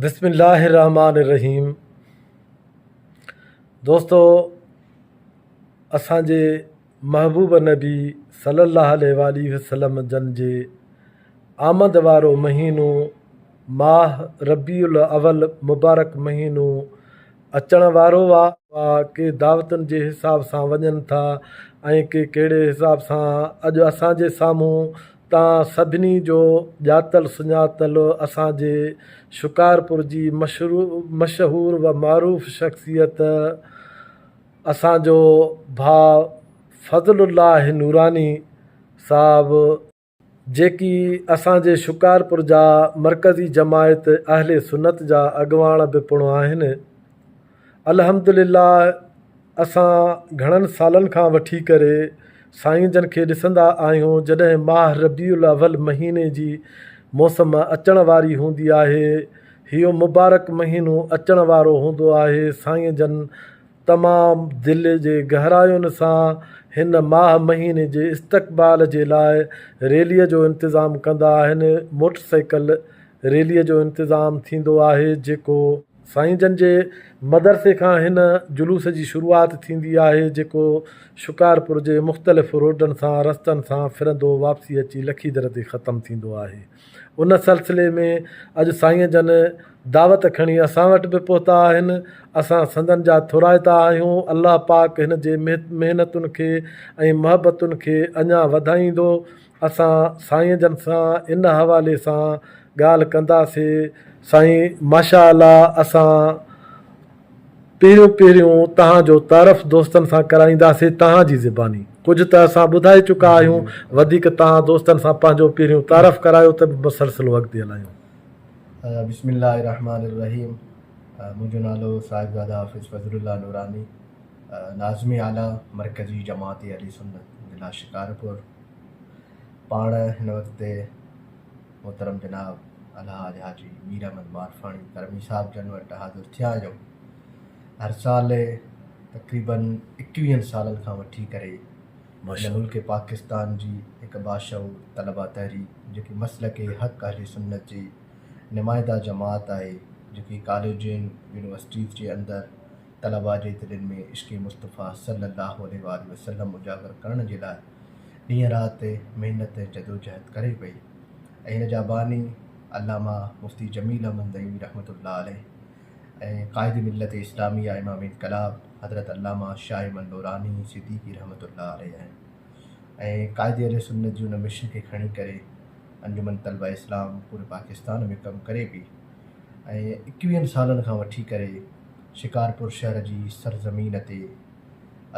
بسم الله الرحمٰن الرحيم دوستو اسان جي محبوب نبي صلي الله عليه وآله وسلم جن جي آمد وارو مهينو ماه ربيع الاول مبارڪ مهينو اچڻ وارو آ ڪي دعوتن جي حساب سان وڃن ٿا ۽ ڪي ڪهڙي حساب سان اڄ اسان جي سامهون تان سڌني جو ڄاتل سڃاتل اسان جي شڪارپور جي مشهور و معروف شخصيت اسان جو ڀاء فضل الله نوراني صاحب، جيڪي اسان جي شڪارپور جا مرڪزي جماعت اهل سنت جا اڳواڻ به پڻ آهن. الحمد لله اسان گهڻن سالن کان وٺي ڪري سائين جن کي ڏسندا آهيون جڏهن ماه ربيع الاول مهيني جي موسم اچڻ واري هوندي آهي هيو مبارڪ مهينو اچڻ وارو هوندو آهي سائين جن تمام دل جي گهراين سان هن ماه مهيني جي استقبال جي لاء ريلي جو انتظام ڪندا آهن موٽرسائيڪل ريلي جو انتظام ٿيندو آهي جيڪو سائين جن جي مدرسي کان هن جلوس جي شروعات ٿيندي آهي جيڪو شڪارپور جي مختلف روڊن سان رستن سان ڦرندو واپسي اچي لکيدر تي ختم ٿيندو آهي ان سلسلي ۾ اڄ سائين جن دعوت کڻي اسان وٽ به پهتا آهن اسان سندن جا ٿورائتا آهيون الله پاڪ هن جي محنتن کي ۽ محبتن کي اڃا وڌائيندو اسان سائين جن سان ان حوالي سان ڳالهه ڪنداسي. سائين ماشا الله اسان پهريون پهريون تهان جو تعرف دوستن سان ڪرائينداسي تهان جي زباني ڪجهه ته اسان ٻڌائي چڪا آهيون وڌيڪ تهان دوستن سان پنهنجو پهريون تعرف ڪرايو ته به مسلسل اڳتي هلايون. بسم الله الرحمٰن الرحيم منهنجو نالو صاحبزاده حافظ فضل الله نوراني ناظم اعليٰ مرڪزي جماعت اهل سنت ضلع شڪارپور. پاڻ هن وقت تي محترم جناب الحاج حاجي مير احمد مارفاڻي ڪرمي صاحب جن وٽ حاضر ٿيا جو هر سال تقريباً اڪويهن سالن کان وٺي ڪري ملڪ پاڪستان جي هڪ باشعور طلبا تحريڪ جيڪي مسلڪ حق اهل سنت جي نمائنده جماعت آهي جيڪي ڪاليجن يونيورسٽيز جي اندر طلباء جي دلين ۾ عشق مصطفيٰ صلّي اللّٰه عليه واٰله وسلّم اجاگر ڪرڻ جي لاء ڏينهن رات محنت ۽ جدوجهد ڪري پئي ۽ ان جا باني علامه مفتي جميل احمد نعيمي رحمة الله عليه ۽ قائد ملت اسلاميه امام انقلاب حضرت علامه شاهه احمد نوراني صديقي رحمة الله عليه آهن ۽ قائد اهلسنت جي ان مشن کي کڻي ڪري انجمن طلبه اسلام پوري پاڪستان ۾ ڪم ڪري پئي ۽ ايڪويهن سالن کان وٺي ڪري شڪارپور شهر جي سرزمين تي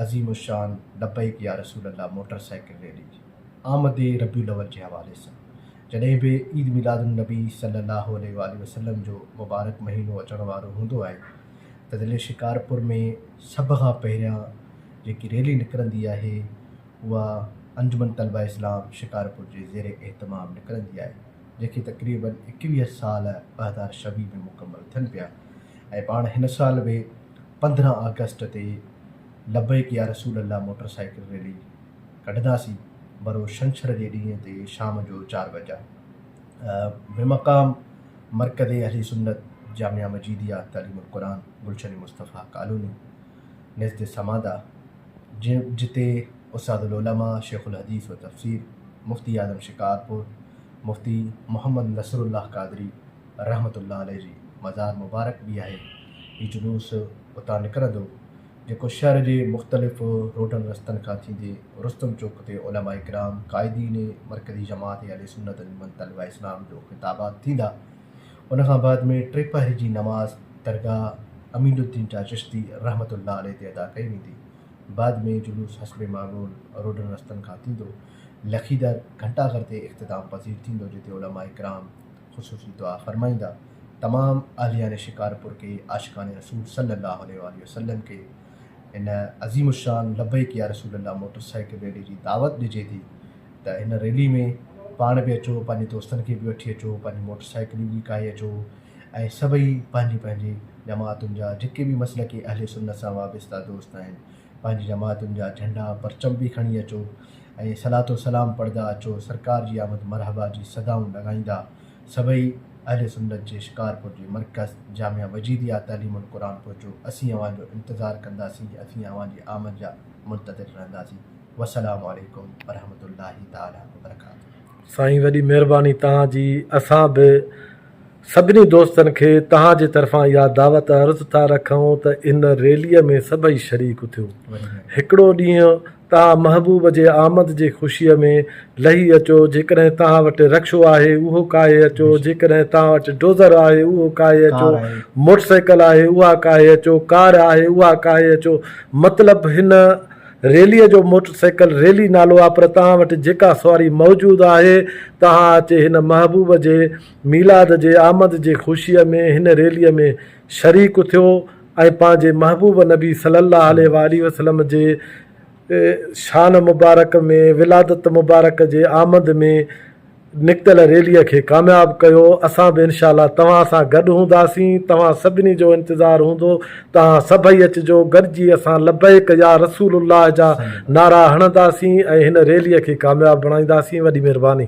عظيم الشان لبيڪ يا رسول الله موٽر سائيڪل ريلي آمد ربيع الاول جي حوالي سان جڏهن به عيد ميلاد النبي صلي الله عليه واٰله وسلم جو مبارڪ مهينو اچڻ وارو هوندو آهي ته ضلعي شڪارپور ۾ سڀ کان پهريان جيڪي ريلي نڪرندي آهي اها انجمن طلبه اسلام شڪارپور جي زير اهتمام نڪرندي آهي. جيڪي تقريباً ايڪويهه سال ٻه هزار ڇويهه ۾ مڪمل ٿين پيا ۽ پاڻ هن سال به پندرهن آگسٽ تي لبيڪ يا رسول الله موٽر سائيڪل ريلي ڪڍنداسين برو شنڇر جي ڏينهن تي شام جو چار بجا بمقام مرڪز اهل سنت جامعه مجيديه تعليم القرآن گلشن مصطفيٰ ڪالوني نزد سماده، جتي استاد العلماء شيخ الحديث و تفسير مفتي اعظم شڪارپور مفتي محمد نصر الله قادري رحمة الله عليه جي مزار مبارڪ به آهي. هي جلوس اتان نڪرندو، جيڪو شهر جي مختلف روڊن رستن کان ٿيندي رستم چوڪ تي علماء ڪرام، قائدين مرڪزي جماعت اهل سنت انجمن طلبه اسلام جو خطابات ٿيندا. ان کان بعد ۾ ٽي پهر جي نماز درگاهه امين الدين جاء چشتي رحمة الله عليه تي ادا ڪئي ويندي. بعد ۾ جلوس حسب معلول روڊن رستن کان ٿيندو لکيدر گهنٽا گهر تي اختتام پذير ٿيندو جتي علماء ڪرام خصوصي دعا فرمائيندا. تمام اهليان شڪارپور کي عاشقان رسول صلّي اللّٰه عليه واٰله وسلّم کي هن عظيم الشان لبيڪ يا رسول الله موٽر سائيڪل ريلي جي دعوت ڏجي ٿي ته هن ريلي ۾ پاڻ به اچو پنهنجي دوستن کي به وٺي اچو پنهنجي موٽر سائيڪلون به ڪاهي اچو ۽ سڀئي پنهنجي پنهنجي جماعتن جا جيڪي به مسلڪي اهل سنت سان وابسته دوست آهن پنهنجي جماعتن جا جهنڊا پرچم به کڻي اچو ۽ صلات و سلام پڙهدا اچو سرڪار جي آمد مرحبا جي صدائون لڳائيندا سڀئي اهل سنت جي شڪارپور جي مرڪز جامع وجيديه تعليم القرآن پهچو اسين اوهان جو انتظار ڪنداسين اٿين اوهان جي آمد جا منتظر رهنداسين والسلام عليڪم ورحمة الله تعالٰي وبرڪاته. سائين وڏي مهرباني توهان جي اسان به سڀني دوستن کي توهان جي طرفان اها دعوت عرض ٿا رکون ته ان ريلي ۾ سڀئي شريڪ ٿيو هڪڙو ڏينهن توهان محبوب جي آمد جي خوشيء ۾ لهي اچو، جيڪڏهن توهان وٽ رڪشو آهي، اهو ڪاهي اچو، جيڪڏهن توهان وٽ ڊوزر آهي، اهو ڪاهي اچو، موٽر سائيڪل آهي، اها ڪاهي اچو، ڪار آهي، اها ڪاهي اچو. مطلب هن ريليء جو موٽر سائيڪل ريلي نالو آهي، پر توهان وٽ جيڪا سواري موجود آهي، توهان اچي هن محبوب جي ميلاد جي آمد جي خوشيء ۾ هن ريليء ۾. شريڪ ٿيو ۽ پنهنجي محبوب نبي صلي الله عليه وآله وسلم جي شان مبارڪ ۾ ولادت مبارڪ جي آمد ۾ نڪتل ريلي کي ڪامياب ڪيو اسان به انشاء الله توهان سان گڏ هونداسين توهان سڀني جو انتظار هوندو توهان سڀئي اچجو گڏجي اسان لبيڪ يا رسول الله جا نعرا هڻنداسين ۽ هن ريلي کي ڪامياب بڻائينداسين وڏي مهرباني.